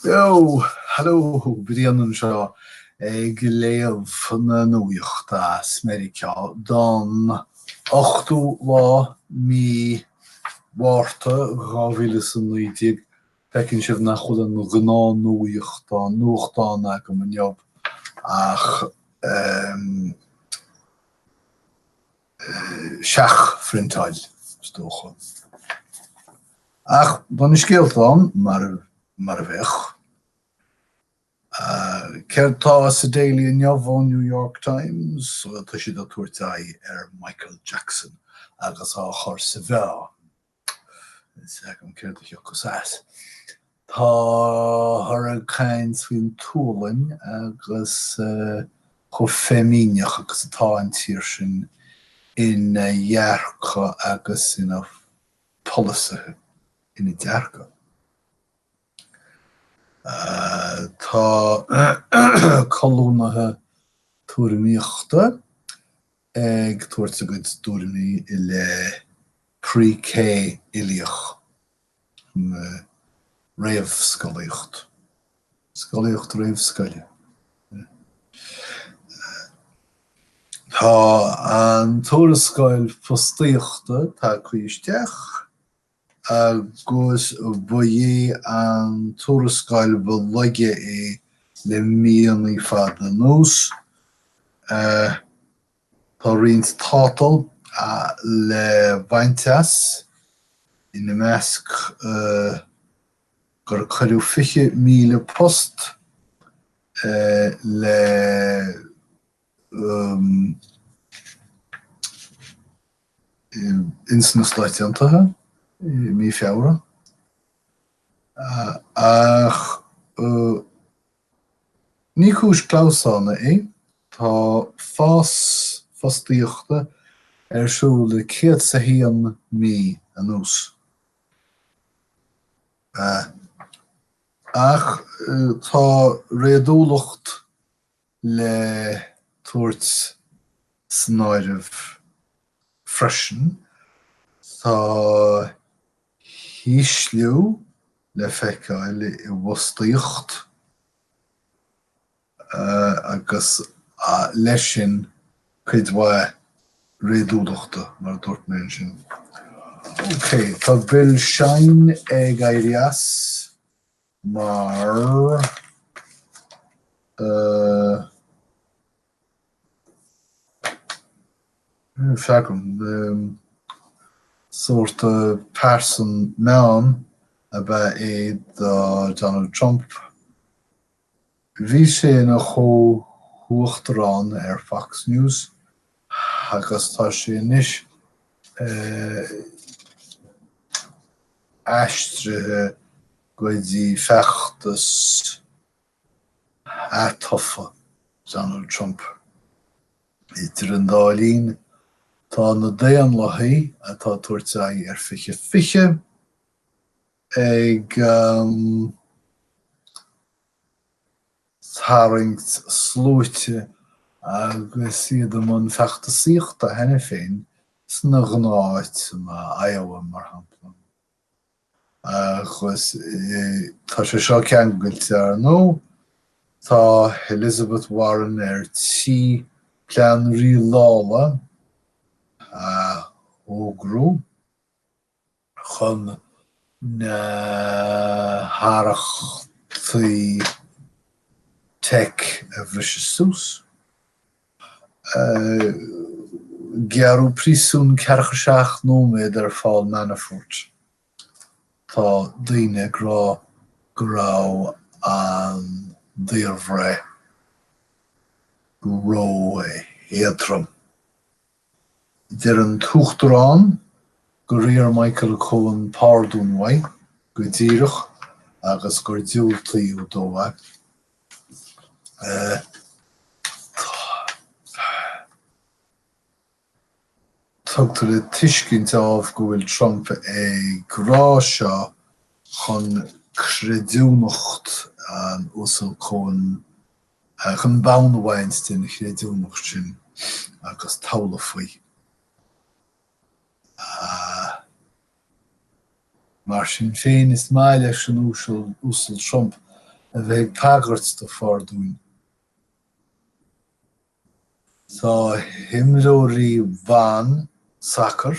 Jó, halló, Brian anseo ag léamh na nuachta as Meiriceá don 8ú lá mí Mhárta 2019. Feiceann sibh nach bhfuil an gnáthnuachtán, nuachtán agam inniu ach ehm. seachphriontáil is dócha. Ach tá na scéalta ann mar a bheadh. Céard tá sa Daily inniu ón New York Times? So tá siad ag tabhairt aghaidh ar Michael Jackson agus á chur sa mheá. N'fheadar céard a thiocfas as. Táthar ag caint faoin tSualainn agus chomh feimíneach agus atá an tír sin ina dhearcadh agus ina pholasaithe, ina dearcadh. Tá colúnaithe tuairimíochta ag tabhairt a gcuid tuairimí i leith Pre-K uilíoch, réamhscolaíocht, scolaíocht réamhscoile. Tá an tuarascáil fostaíochta tagtha isteach. agus ba é an tuarascáil ba laige é le míonna fada anuas. Tá roinnt tátal le baint as, ina measc gur cuireadh 20,000 post le. ins na Stáit Aontaithe i mí Feabhra. Ach ní cúis clamhsána é, tá fás fostaíochta ar siúl le céad 's a haon mí anuas. Ach tá réadúlacht le tabhairt san áireamh freisin tá ísliú le feiceáil i bhfostaíocht agus leis sin cuid mhaith réadúlachta, mar a dúirt mé ansin. OK, tá Bill Shine ag éirí as. mar níl fhios agam sórt pearsan meáin ab ea é do Donald Trump Bhí sé ina chomh-uachtarán ar Fox News agus tá sé anois aistrithe go dtí feachtas atofa Donald Trump. Idir an dá linn, tá na Daonlathaigh atá ag tabhairt aghaidh ar 20 20 ag tarraingt sluaite agus iad i mbun feachtasaíochta cheana féin sna gnátháiteanna Iowa mar shampla. Agus tá sé seo ceangailte ar ndóigh, tá Elizabeth Warren ar tí plean rialála a fhógrú. chun na harrachtaí teic a bhriseadh suas. Gearradh príosún ceathracha a seacht nóiméad ar Phaul Manafort. Tá daoine ag rá go raibh an daorbhreith ró-éadrom. Deir an tUachtarán gur iarr Michael Cohen pardún uaidh go díreach agus gur diúltaíodh dó é. Tugtar le tuiscint ámh go bhfuil Trump ag rá seo chun creidiúnacht an Uasail Cohen Chun bonn a bhaint den chreidiúnacht sin agus tochailt faoi. Mar sin féin, is maith leis an Uasal Uasal Trump a bheith ag tagairt do phardúin. Tá imreoirí ban sacair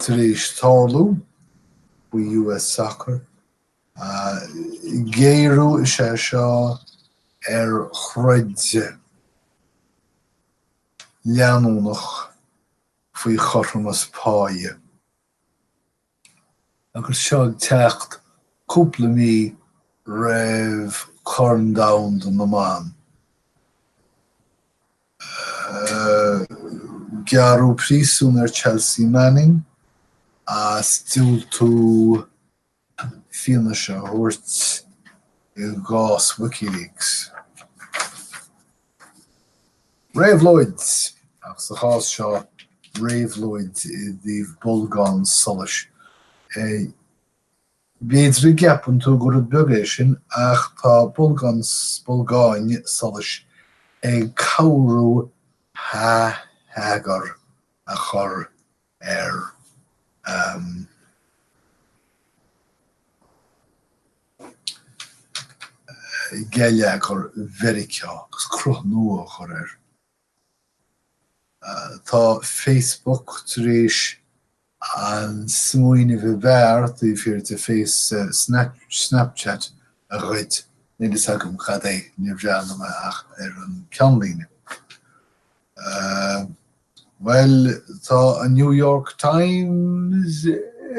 Tar éis tabhairt faoi US Soccer, géarú is ea seo ar throid leanúnach faoi chothromas páighe. Agus seo ag teacht cúpla mí roimh Chorn Domhanda na mBan, gearradh príosún ar Chelsea Manning as diúltú fianaise a thabhairt i gcás WikiLeaks. Réabhlóid! Ach sa chás seo, réabhlóid i dtaobh bolgán solais. B'fhéidir go gceapann tú gur rud beag é sin ach tá bolgán, bolgáin, solais ag cabhrú hea, heagar a chur ar gheilleagar Mheiriceá agus cruth nua a chur air. Tá Facebook tar éis an smaoineamh ab fhearr taobh thiar de Face, Snapchat a ghoid. Níl fhios agam cad é, níor bhreathnaigh mé ach ar an gceannlíne. Bhuel, tá an New York Times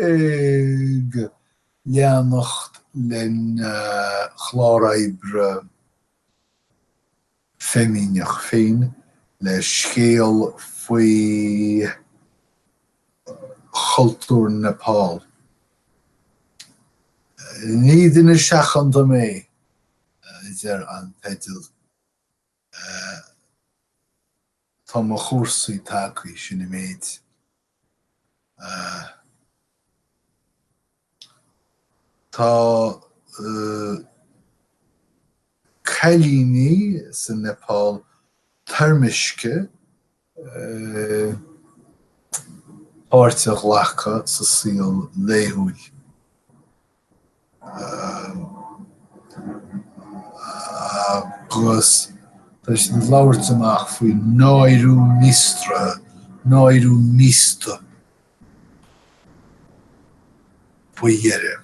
ag leanacht lena chlár oibre feimineach féin le scéal faoi chultúr Nepal. Ní duine seachanta mé, a deir an teideal. Tá mo chúrsaí tagtha, sin an méid. Tá cailíní sa Nepal toirmiscthe páirt a ghlacadh sa saol laethúil agus tá siad ag labhairt amach faoi náiriú míostraithe, náiriú míosta faoi dheireadh.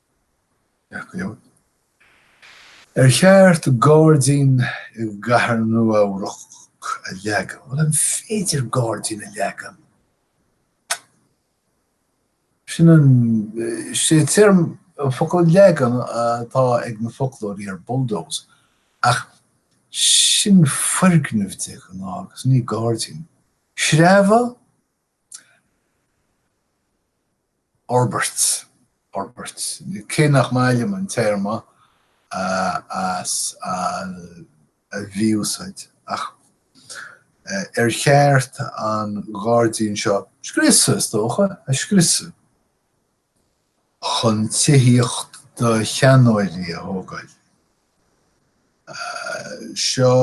Jack Leo. Ar cheart gairdín i gcathair Nua-Eabhrac a leagan? Bhuel, an féidir gairdín a leagan? Sin an, sé téarma, an focal leagan atá ag na foclóirí ar bulldoze, ach sin foirgneamh de ghnáth agus ní gairdín. Sreabhadh? fhorbairt, fhorbairt, cé nach maith liom an téarma as a mhí-úsáid é, ach ar cheart an gairdín seo a scriosadh, is dócha, a scriosadh chun tithíocht do sheanóirí a thógáil. Seo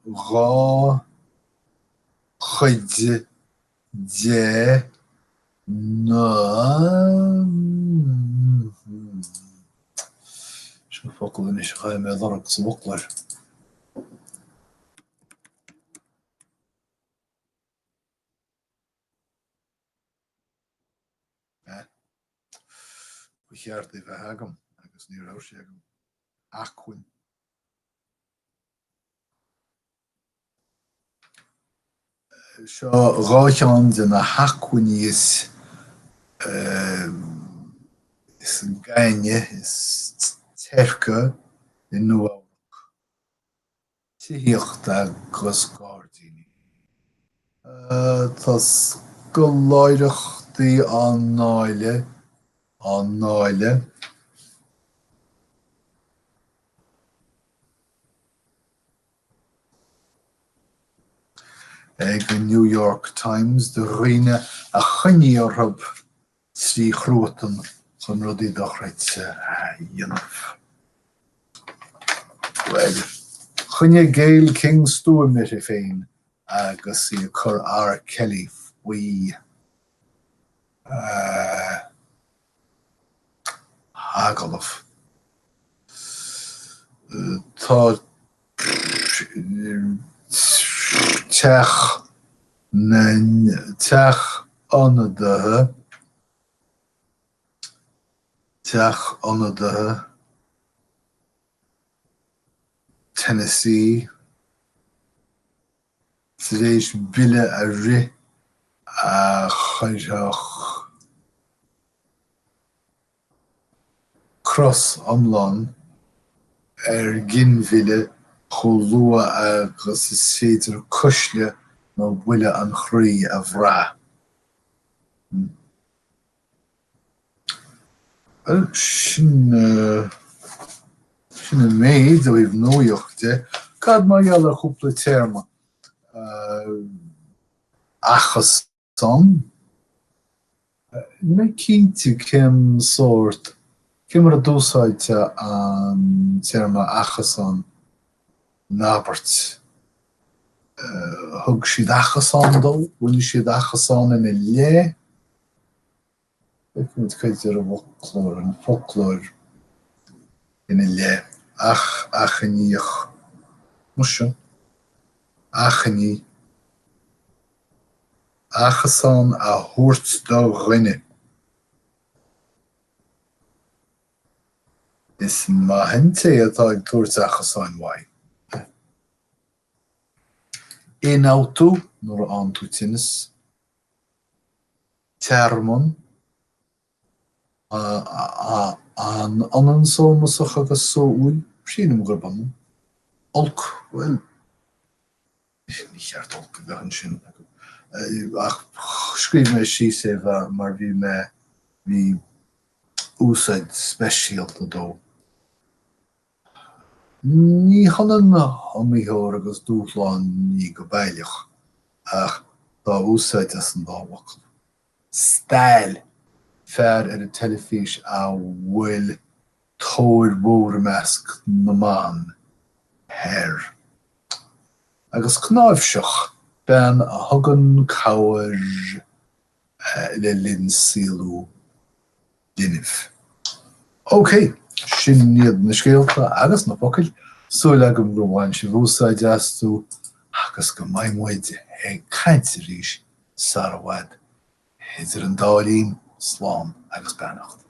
dhá. chuid de na, seo focal anois a chaithfidh mé a lorg sa bhfoclóir. Ba cheart é a bheith agam agus ní raibh sé agam. Acmhainn. Seo dhá cheann de na hacmhainní is gainne, is teirce i Nua-Eabhrac, tithíocht agus gairdíní. Tá scoláireachtaí á ndáileadh, á ndáileadh. ag an New York Times do dhaoine a choinnigh orthu trí chruatan chun rudaí dochreidte a dhéanamh. Bhuel, choinnigh Gayle King stuaim uirthi féin agus í ag cur R. Kelly faoi. agallamh. Tá Teach na, Teach Ionadaithe Teach Ionadaithe Tennessee. tar éis bille a rith a chuirfeadh cosc iomlán ar ghinmhilleadh chomh luath agus is féidir cuisle nó buille an chroí a bhrath. Bhuel, sin, sin an méid ó thaobh nuaíochta de. Cad mar gheall ar chúpla téarma? Achasán? Ní mé cinnte cén sórt, cén mar a d'úsáidteá an téarma achasán in abairt. Thug siad achasán dó? Rinne siad achasán ina leith? Feicfimid cad a deir an foclóir, an foclóir ina leith ach achainíoch. Mar sin. Achainí. Achasán a thabhairt do dhuine. Is maith an té atá ag tabhairt achasáin uaidh. Ionfhabhtú, nuair a fhaigheann tú tinneas. tearmann, an ionann sómasach agus sóúil? sílim gurb ionann. olc, bhuel ní cheart olc a bheith ansin ach scríobh mé síos é mar bhí mé, bhí úsaid speisialta dó. Ní hionann iomaítheoir agus dúshlán ní go baileach, ach dhá úsáid as an dá fhocal. Stail, fear ar an teilifís a bhfuil tóir mhór i measc na mban air. Agus cnáimhseach, bean a thugann cabhair le linn saolú linbh. OK, sin iad na scéalta agus na focail, súil agam gur bhain sibh úsáid astu agus go mbeidh muid ag caint arís sara bhfad. Idir an dá linn, slán agus beannacht.